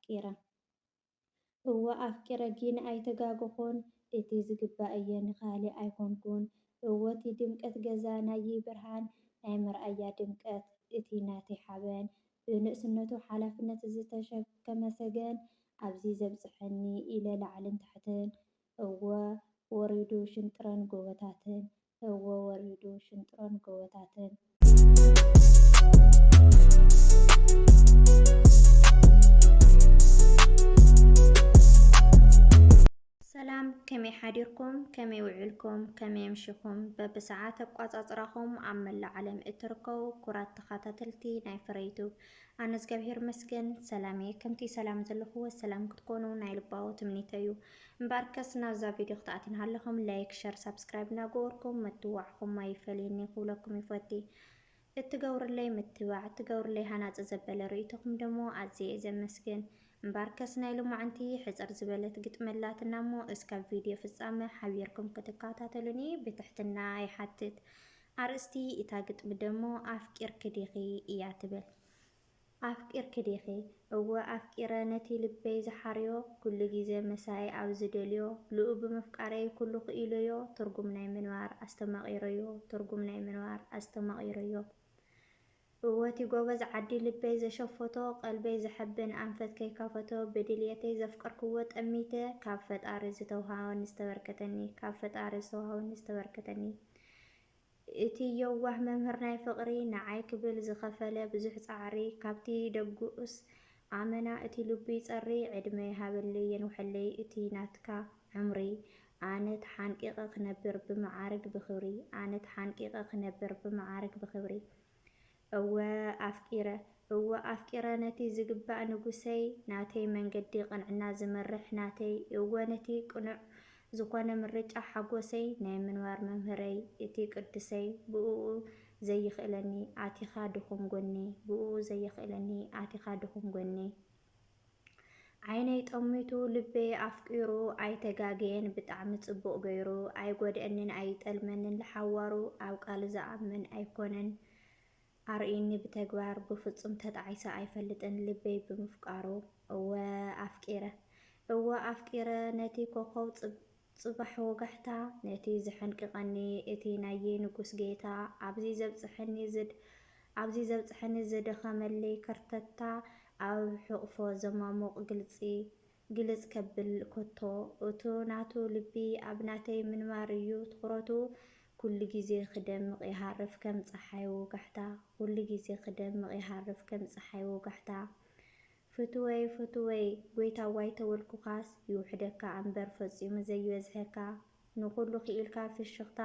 ኣፍቂረ። እወ ኣፍቂረ ጊን ኣይተጋገኹን እቲ ዝግባእ እየ ንካሊእ ኣይኮንኩን እወ እቲ ድምቀት ገዛ ናይይ ብርሃን ናይ መርኣያ ድምቀት እቲ ናተይ ሓበን ብንእስነቱ ሓላፍነት ዝተሸከመ ሰገን ኣብዚ ዘብፀሐኒ ኢለ ላዕልን ታሕትን እወ ወሪዱ ሽንጥረን ጎቦታትን እወ ወሪዱ ሽንጥሮን ጎቦታትን። ሰላም ከመይ ሓዲርኩም ከመይ ውዕልኩም ከመይ ኣምሽኹም በብሰዓት ኣቋፃፅራኹም ኣብ መላእ ዓለም እትርከቡ ኩራት ተኸታተልቲ ናይ ፍረይቱ ኣነ እግዚኣብሔር መስገን ሰላም እየ ከምቲ ሰላም ዘለኹዎ ሰላም ክትኮኑ ናይ ልባዊ ትምኒተይ እዩ እምበኣርከስ ናብዛ ቪድዮ ክትኣትዩና ኣለኹም ላይክ ሸር ሳብስክራይብ እናገበርኩም ምትዋዕኹም ኣይፈለየኒ ክብለኩም ይፈቲ እትገብሩለይ ምትባዕ እትገብሩለይ ሃናፂ ዘበለ ርእይቶኹም ደሞ ኣዝየ እየ ዘመስግን እምበኣርከስ ናይ ሎማዕንቲ ሕፅር ዝበለት ግጥሚ ኣላትና እሞ እስካብ ቪድዮ ፍፃመ ሓቢርኩም ክትከታተሉኒ ብትሕትና ይሓትት ኣርእስቲ እታ ግጥሚ ደሞ ኣፍቂርኪ ዲኺ እያ ትብል ኣፍቂርኪ ዲኺ? እወ ኣፍቂረ ነቲ ልበይ ዝሓርዮ ኩሉ ግዜ መሳይ ኣብ ዝደልዮ ልኡ ብምፍቃረይ ኩሉ ክኢሎዮ ትርጉም ናይ ምንባር ኣስተማቂሮዮ ትርጉም ናይ ምንባር ኣስተማቂሮዮ እወ እቲ ጎበዝ ዓዲ ልበይ ዘሸፈቶ ቀልበይ ዘሐብን ኣንፈት ከይከፈቶ ብድልየተይ ዘፍቀርክዎ ጠሚተ ካብ ፈጣሪ ዝተውሃበኒ ዝተበርከተኒ ካብ ፈጣሪ ዝተውሃበኒ ዝተበርከተኒ እቲ የዋህ መምህር ናይ ፍቕሪ ንዓይ ክብል ዝኸፈለ ብዙሕ ጻዕሪ ካብቲ ደጉስ ኣመና እቲ ልቡ ይጸሪ ዕድመ ይሃበለይ የንውሐለይ እቲ ናትካ ዕምሪ ኣነ ተሓንቂቐ ክነብር ብመዓርግ ብኽብሪ ኣነ ተሓንቂቐ ክነብር ብመዓርግ ብኽብሪ እወ ኣፍቂረ እወ ኣፍቂረ ነቲ ዝግባእ ንጉሰይ ናተይ መንገዲ ቅንዕና ዝመርሕ ናተይ እወ ነቲ ቅኑዕ ዝኾነ ምርጫ ሓጎሰይ ናይ ምንባር መምህረይ እቲ ቅዱሰይ ብእኡ ዘይኽእለኒ ኣቲኻ ድኹም ጎኒ ብእኡ ዘየኽእለኒ ኣቲኻ ድኹም ጎኒ ዓይነይ ጠሚቱ ልበይ ኣፍቂሩ ኣይተጋገየን ብጣዕሚ ጽቡቅ ገይሩ ኣይጎድኣኒን ኣይጠልመንን ልሓዋሩ ኣብ ቃሉ ዝኣምን ኣይኮነን ኣርእዩኒ ብተግባር ብፍጹም ተጣዒሰ ኣይፈልጥን ልበይ ብምፍቃሩ እወ ኣፍቂረ እወ ኣፍቂረ ነቲ ኮኾብ ጽባሕ ወጋሕታ፣ ነቲ ዘሐንቅቀኒ እቲ ናይይ ንጉስ ጌታ፣ ኣብዚ ዘብጸሐኒ ዝድ ኣብዚ ዘብጸሐኒ ዝደኸመለይ ከርተታ፣ ኣብ ሕቕፎ ዘማሙቕ ግልጺ ግልጽ ከብል ኮቶ፣ እቱ ናቱ ልቢ ኣብ ናተይ ምንባር እዩ ትኹረቱ፣ ኩሉ ግዜ ክደምቕ ይሃርፍ ከም ጸሓይ ወጋሕታ፣ ኩሉ ግዜ ክደምቕ ይሃርፍ ከም ጸሓይ ወጋሕታ፣ ፍቱወይ ፍቱወይ ጎይታዋይ ተወልኩካስ ይውሕደካ ኣምበር ፈጺሙ ዘይበዝሐካ ንኩሉ ኪኢልካ ፍሽክታ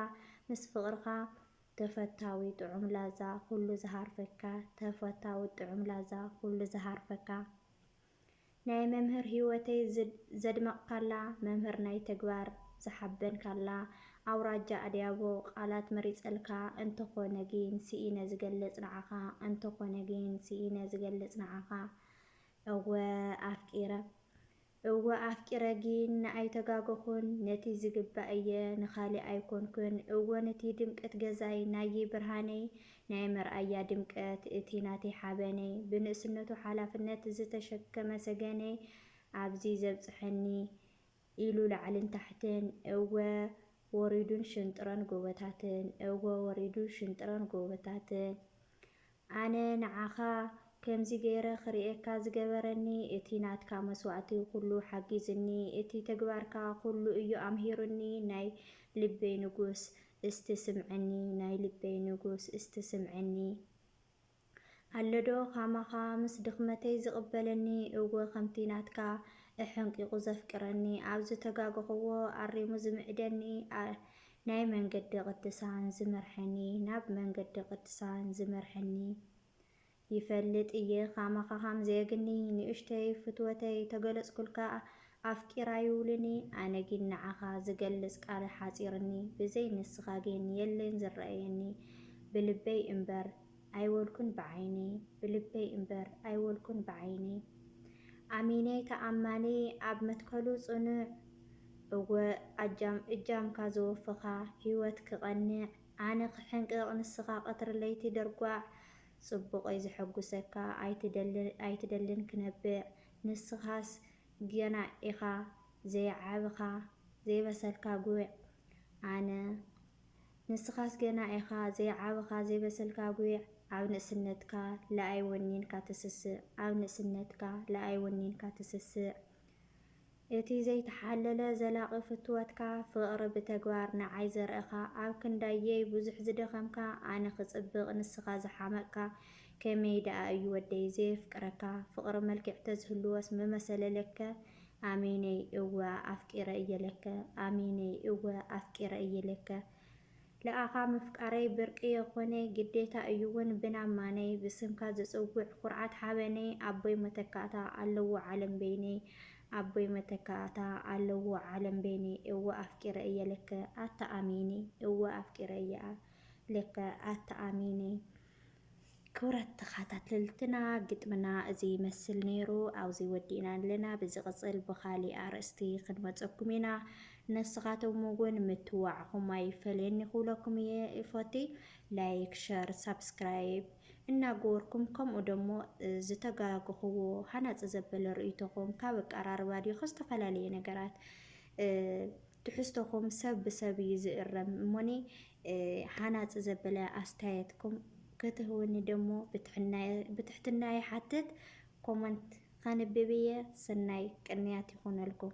ምስ ፍቅርካ ተፈታዊ ጥዑም ላዛ ኩሉ ዝሃርፈካ ተፈታዊ ጥዑም ላዛ ኩሉ ዝሃርፈካ ናይ መምህር ሂወተይ ዘድመቅካላ መምህር ናይ ተግባር ዝሓበንካላ ኣውራጃ ኣድያቦ ቃላት መሪጸልካ እንተኾነ ጊን ሲኢነ ዝገልጽ ንዓኻ እንተኾነ ጊን ሲኢነ ዝገልጽ ንዓኻ እወ ኣፍቂረ እወ ኣፍቂረ ጊን ንኣይተጋገኹን ነቲ ዝግባእ እየ ንኻሊእ ኣይኮንኩን እወ ንቲ ድምቅት ገዛይ ናይይ ብርሃነይ ናይ መርኣያ ድምቀት እቲ ናተይ ሓበነይ ብንእስነቱ ሓላፍነት ዝተሸከመ ሰገነይ ኣብዚ ዘብጽሐኒ ኢሉ ላዕልን ታሕትን እወ ወሪዱን ሽንጥሮን ጎቦታትን እወ ወሪዱ ሽንጥሮን ጎቦታትን ኣነ ንዓኻ ከምዚ ገይረ ክርእየካ ዝገበረኒ እቲ ናትካ መስዋእቲ ኩሉ ሓጊዙኒ እቲ ተግባርካ ኩሉ እዩ ኣምሂሩኒ ናይ ልበይ ንጉስ እስቲ ስምዐኒ ናይ ልበይ ንጉስ እስቲ ስምዐኒ። ኣሎ ዶ ካማኻ ምስ ድኽመተይ ዝቅበለኒ እወ ከምቲ ናትካ እሐንቂቁ ዘፍቅረኒ ኣብ ዝተጋገኹዎ ኣሪሙ ዝምዕደኒ ናይ መንገዲ ቅድሳን ዝመርሐኒ ናብ መንገዲ ቅድሳን ዝመርሐኒ ይፈልጥ እየ ካማኻ ካምዘየግኒ ንእሽተይ ፍትወተይ ተገለጽኩልካ ኣፍቂራ ይውልኒ ኣነ ጊን ንዓኻ ዝገልጽ ቃል ሐጺርኒ ብዘይ ንስኻ ጊን የለን ዝረኣየኒ ብልበይ እምበር ኣይወልኩን ብዓይነይ ብልበይ እምበር ኣይወልኩን ብዓይነይ ኣሚነይ ተኣማኒ ኣብ መትከሉ ጽኑዕ እወ ኣጃም እጃምካ ዘወፈኻ ሂወት ክቐንዕ ኣነ ክሕንቅቕ ንስኻ ቀትሪ ለይቲ ደርጓዕ ጽቡቐይ ዘሐጉሰካ ኣይትደልን ክነብዕ ንስኻስ ገና ኢኻ ዘይዓብኻ ዘይበሰልካ ጉዕ ኣነ ንስኻስ ገና ኢኻ ዘይዓበኻ ዘይበሰልካ ጉይዕ ኣብ ንእስነትካ ልኣይ ወኒንካ ትስስዕ ኣብ ንእስነትካ ልኣይ ወኒንካ ትስስዕ እቲ ዘይተሓለለ ዘላቒ ፍትወትካ ፍቕሪ ብተግባር ንዓይ ዘርእኻ ኣብ ክንዳየይ ብዙሕ ዝደኸምካ ኣነ ክጽብቕ ንስኻ ዝሓመቕካ ከመይ ድኣ እዩ ወደይ ዘየፍቅረካ ፍቕሪ መልክዕ ተዝህልዎስ ምመሰለ ለከ ኣሜነይ እወ ኣፍቂረ እየ ለከ ኣሜነይ እወ ኣፍቂረ እየ ለከ ልኣኻ ምፍቃረይ ብርቂ የኾነይ ግዴታ እዩ ውን ብን ኣማነይ ብስምካ ዝጽውዕ ኩርዓት ሓበነይ ኣቦይ መተካእታ ኣለዎ ዓለም በይነይ ኣቦይ መተካእታ ኣለዎ ዓለም በይነይ እወ ኣፍቂረ እየ ለከ ኣታ ኣሜነይ እወ ኣፍቂረ እየ ለከ ኣታ ኣሜነይ ክብራት ተኻታተልትና ግጥምና እዚ ይመስል ነይሩ ኣብዚ ወዲእና ኣለና ብዝቅጽል ብኻሊእ ኣርእስቲ ክንመጸኩም ኢና ንስኻቶም እውን ምትዋዕኹም ኣይፈለየኒ ክብለኩም እየ እፎቲ ላይክ ሸር ሳብስክራይብ እናገበርኩም ከምኡ ደሞ ዝተጋግኽዎ ሃናጽ ዘበለ ርእይቶኹም ካብ ኣቀራርባ ድዮ ዝተፈላለየ ነገራት ትሕዝቶኹም ሰብ ብሰብ እዩ ዝእረም እሞኒ ሃናፂ ዘበለ ኣስተያየትኩም ክትህቡኒ ደሞ ብትሕትና ይሓትት። ኮመንት ከንብብ እየ። ሰናይ ቅንያት ይኹነልኩም።